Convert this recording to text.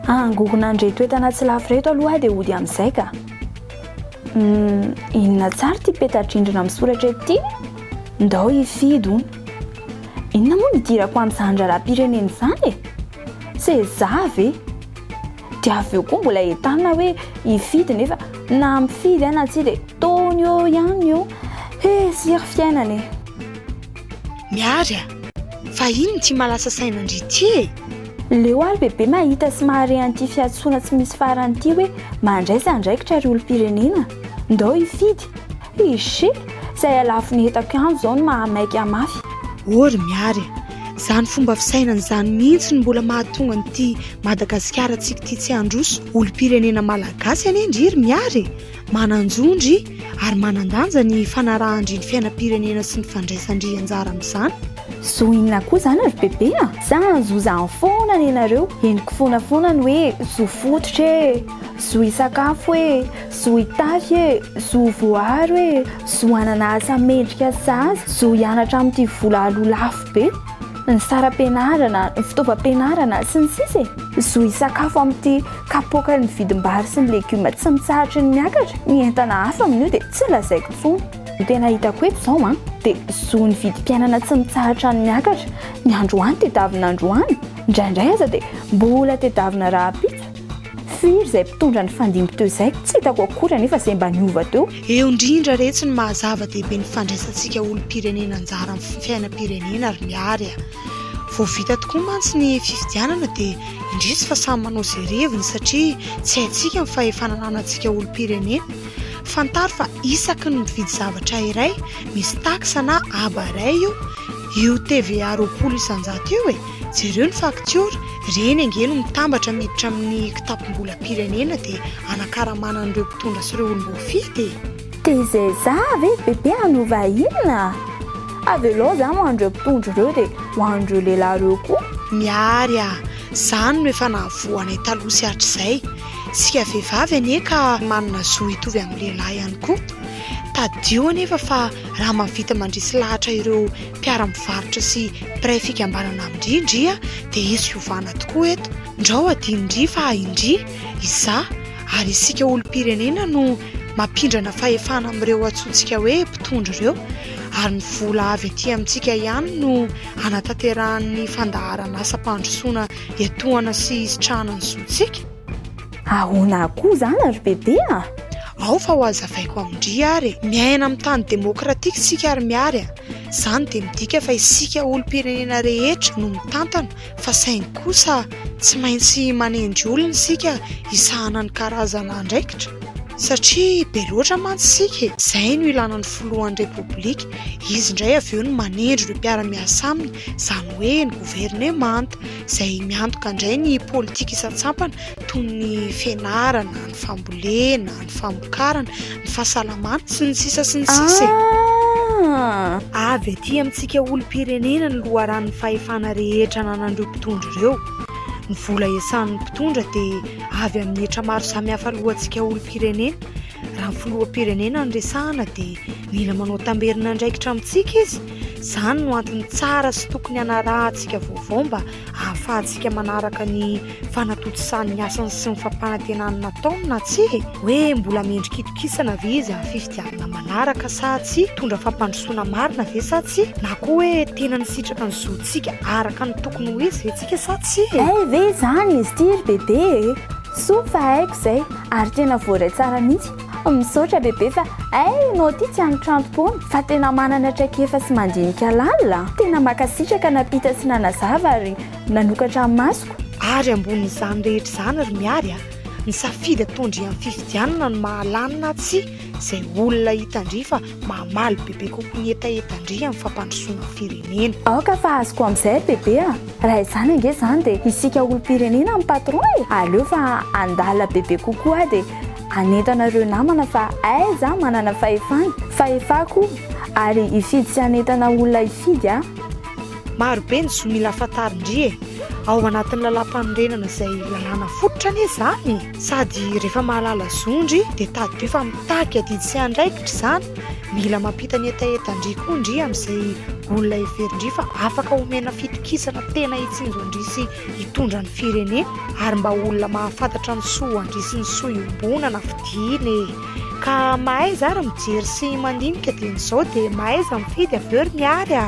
Angorona an'ireto entana tsy lafo ireto aloha dia hody amin'izay ka. Hmm, inona tsara ity peta-drindrina misoratra eto ity? Ndao hifidy hono. Inona moa ny idirako amin'izany raharaham-pirenena izany e? Seza ve? Dia avy eo koa mbola entanina hoe hifidy nefa na mifidy aho na tsia dia taony eo ihany io. He, tsiry fiainana e! Miary a! Fa iny ny tsy mahalasa saina an-dry ity e! Leo aho ry bebe mahita sy mahare an'ity fiantsoana tsy misy farany ity hoe mandraisa andraikitra ry olom-pirenena! Ndao hifidy! Pge, zay halafon'ny heta kianjo zao no maha maika mafy. Oh ry Miary e! Zany fomba fisainana zany mihintsy no mbola mahatonga an'ity Madagasikara tsika ity tsy handroso olompirenena malagasy anie ndry ry Miary e! Manan-jo ndry ary manan-danja ny fanarahan-dry ny fiainam-pirenena sy ny fandraisan-dry anjara amin'izany. Zo inona koa zany ry Bebe a! Za hanzo zany foana nenareo, henoko foana foana ny hoe zo fototra e! Zo hisakafo e! Zo hitafy e, zo voaaro e, zo hanana asa mendrika sazy, zo hianatra amin'ity vola aloa lafo be, ny saram-pianarana, ny fitaovam-pianarana, sy ny sisa e. Zo hisakafo amin'ity kapoaka ny vidim-bary sy ny legioma tsy mitsahatry ny miakatra, ny entana hafa amin'io dia tsy lazaiko intsony. Ny tena hitako eto izao an, dia zo ny vidim-piainana tsy mitsahatra ny miakatra, ny androany tedavina androany, indraindray aza dia mbola tedavina rahampitso. Firy izay mpitondra nifandimby teo izay tsy hitako akory anefa izay mba niova teo. Eo indrindra re tsy ny maha zava-dehibe ny fandraisantsika olom-pirenena anjara amin'ny fiainam-pirenena ry Miary a! Vao vita tokoa mantsy ny fifidianana dia indrisy fa samy manao izay reviny satria tsy haintsika ny fahefana ananantsika olom-pirenena. Fantaro fa isaky ny mividy zavatra iray misy taxe na aba iray io, io TVA roapolo isan-jato io e! Jereo ny faktiora, ireny ange no mitambatra miditra amin'ny kitapom-bolam-pirenena dia hanakaramana an'ireo mpitondra sy ireo olom-boafidy e! TZA ve ry Bebe hanova inona? Avelao izany ho an'ireo mpitondra ireo dia ho an'ireo lehilahy ireo koa. Mihary a! Izany no efa nahavoa anay taloha sy hatrizay. Isika vehivavy anie ka manana zo hitovy amin'ny lehilahy ihany koa. Tadidio anefa fa raha mahavita mandresy lahatra ireo mpiara-mivarotra sy mpiray fikambanana amin-dry ndria dia hisy fiovana tokoa eto. Ndrao adino-ndry fa indry, izaho ary isika olom-pirenena no mampindrana fahefana amin'ireo antsointsika hoe mpitondra ireo ary ny vola avy aty amintsika ihany no hanatanterahan'ny fandaharan'asam-pandrosoana iantohana sy hisitrahana ny zontsika. Ahoana akoa izany ry Bebe a! Ao fa ho hazavaiko amin-dry ary e! Miaina amin'ny tany demokratika isika ry Mihary a! Izany dia midika fa isika olom-pirenena rehetra no mitantana fa saingy kosa tsy maintsy manendry olona isika hisahana ny karazana andraikitra satria be loatra mantsy isika e! Izay no ilana ny filohan'ny Repoblika, izy indray avy eo no manendry ireo mpiara-miasa aminy, izany hoe ny governemanta izay miantoka indray ny politika isan-tsampana toy ny fianarana, ny fambolena, ny famokarana, ny fahasalamana sy ny sisa sy ny sisa e. Ah! Avy aty amintsika olom-pirenena ny loharanon'ny fahefana rehetra ananan'ireo mpitondra ireo. Ny vola iasan'ny mpitondra dia avy amin'ny hetra maro samihafa alohantsika olom-pirenena. Raha ny filoham-pirenena no resahana dia mila manao tamberin'andraikitra amintsika izy. Izany no antony tsara sy tokony hanarahantsika vaovao mba ahafahantsika manaraka ny fanatontosàn'ny asany sy ny fampanantenany nataony na tsia e, hoe mbola mendri-kitokisana ve izy amin'ny fifidianana manaraka sa tsia, hitondra fampandrosoana marina ve sa tsia, na koa hoe tena nisitraka ny zontsika araka ny tokony ho izy ve tsika sa tsia e? Hay ve izany izy ity ry Bebe e! Soa fa haiko izay ary tena voaray tsara mihitsy Misaotra bebe fa hay ianao ty tsy anitrantom-poana fa tena manana traikefa sy mandinika lalina. Tena makasitraka nampita sy nanazava ary nanokatra ny masoko. Ary ambonin'izany rehetra izany ry Miary a, ny safidy ataon-dry amin'ny fifidianana no mahalany na tsia izay olona hitan-dry fa mamaly bebe kokoa ny hetahetan-dry amin'ny fampandrosoana ny firenena. Aoka fa azoko amin'izay bebe a! Raha izany ange izany dia isika olom-pirenena no patron e! Aleo fa handalina bebe kokoa dia Hanentana ireo namana fa aiza aho manana fahefana, fahefako ary hifidy sy hanentana olona hifidy aho. Maro be ny zo mila fantarin-dry e! Ao anatin'ny lalàmpanorenana izay lalàna fototra anie izany sady rehefa mahalala zon-dry dia tadidio fa mitaky adidy sy andraikitra izany. Mila mampita ny hetahetan-dry koa ndry amin'izay olona heverin-dry fa afaka omena fitokisana tena hitsinjo an-dry sy hitondra ny firenena ary mba olona mahafantatra ny soa andria sy ny soa iombonana fidiana e ka mahaiza ary mijery sy mandinika dia ny zao dia mahaiza mifidy avy eo ry miary a